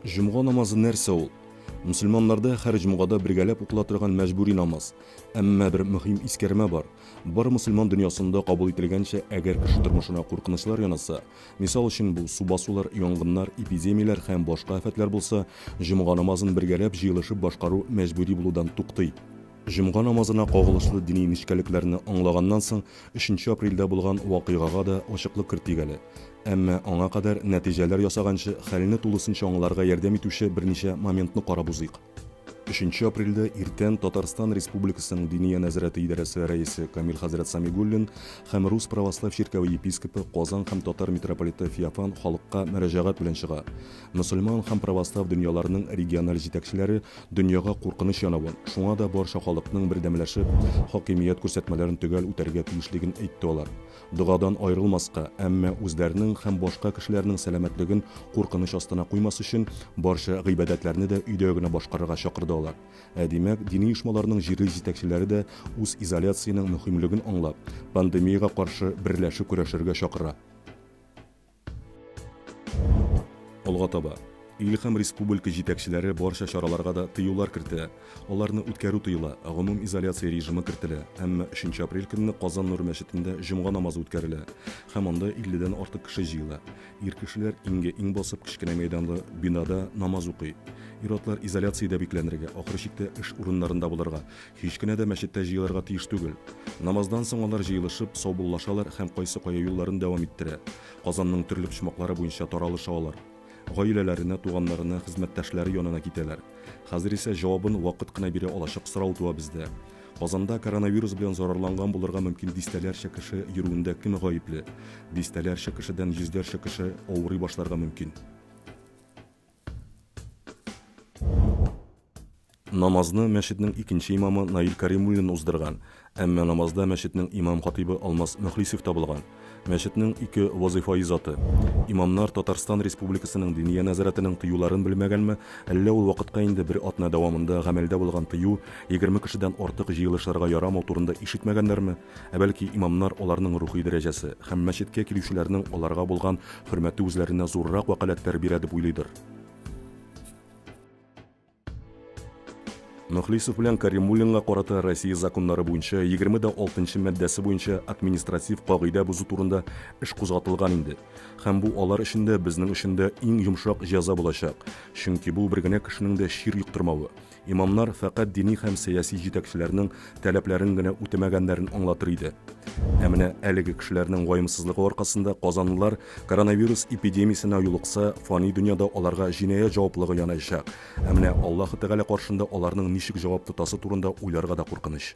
Җомга намазы нәрсә ул? Мөселманнарда һәр җомгада бергәләп укыла торган мәҗбүри намаз. Әмма бер мөһим искәрмә бар. Бар мөселман дөньясында кабул ителгәнчә, әгәр кеше тормышына куркынычлар янаса, мисал өчен бу су басулар, янгыннар, эпидемияләр һәм башка афәтләр булса, җомга намазын бергәләп җыелышып башкару мәҗбүри булудан туктый. Җомга намазына кагылышлы дини нечкәлекләрне аңлаганнан соң, өченче апрельдә булган вакыйгага да ачыклык кертик әле. Әмма аңа кадәр, нәтиҗәләр ясаганчы, хәлне тулысынча аңларга ярдәм итүче берничә моментны карап узыйк. Өченче апрельдә иртән Татарстан Республикасының Диния нәзарәте идарәсе рәисе Камил хәзрәт Самигуллин һәм Рус православ чиркәве епископы, Казан һәм татар митрополиты Феофан халыкка мөрәҗәгать белән чыга. Мөселман һәм православ дөньяларының региональ җитәкчеләре Дөньяга куркыныч янавы, шуңа да барча халыкның бердәмләшеп, хакимият күрсәтмәләрен төгәл үтәргә тиешлеген әйтте алар. Догадан аерылмаска, әмма үзләренең һәм башка кешеләрнең сәламәтлеген куркыныч астына куймас өчен, барча гыйбадәтләрне дә өйдә генә башкарырга чакырды алар. Ә димәк, дини оешмаларның җирле җитәкчеләре дә үз изоляциянең мөһимлеген аңлап, пандемиягә каршы берләшеп көрәшергә чакыра. Алга таба. Ил һәм республика җитәкчеләре барча чараларга да тыюлар кертә. Аларны үткәрү тыела, гомум изоляция режимы кертелә, әмма 3 апрель көнне Казан Нур мәчетендә җомга намазы үткәрелә һәм анда 50 дән артык кеше җыела. Ир кешеләр иңгә иң басып кечкенә мәйданлы бинада намаз укый. Ир-атлар изоляциядә бикләнергә, ахыр чиктә эш урыннарында булырга, Һич кенә дә мәчеттә җыелырга тиеш түгел. Намаздан соң алар җыелышып, саубуллашалар һәм кайсы кая юлларын дәвам иттерә, Казанның төрле почмаклары буенча таралыша алар. Гаиләләренә, туганнарына, хезмәттәшләре янына китәләр. Хәзер исә җавабын вакыт кына бирә алачак сорау туа бездә. Казанда коронавирус белән зарарланган булырга мөмкин дистәләрчә кеше йөрүендә кем гаепле? Дистәләрчә кешедән йөзләрчә кеше авырый башларга мөмкин. Намазны мәчетнең икенче имамы Наил Кәримуллин уздырган, әмма намазда мәчетнең имам-хатыйбы Алмаз Мөхлисев табылган. Мәчетнең ике вазыйфаи заты. Имамнар Татарстан Республикасының Диния нәзарәтенең тыюларын белмәгәнме, әллә ул вакытка инде бер атна дәвамында гамәлдә булган тыю, егерме кешедән артык җыелышырга ярамау турында ишетмәгәннәрме, Ә бәлки имамнар аларның рухи дәрәҗәсе һәм мәчеткә килүчеләрнең аларга булган хөрмәте үзләренә зуррак вәкаләтләр бирә дип уйлыйдыр? Мөхлисов белән Каримуллинга карата Россия законнары буенча 26 маддәсе буенча административ кагыйдә бозу турында эш кузгатылган инде. Һәм бу алар өчен дә, безнең өчен дә иң йомшак җәза булачак. Чөнки бу бер генә кешенең дә чир йоктырмавы. Имамнар фәкать дини һәм сәяси җитәкчеләрнең таләпләрен генә үтәмәгәннәрен аңлатыр иде. Ә менә әлеге кешеләрнең ваемсызлыгы аркасында казанлылар коронавирус эпидемиясенә юлыкса, фани дөньяда аларга җинаять җаваплыгы янаячак. Ә менә Аллаһы Тәгалә каршында аларның ничек җавап тотасы турында уйларга да куркыныч.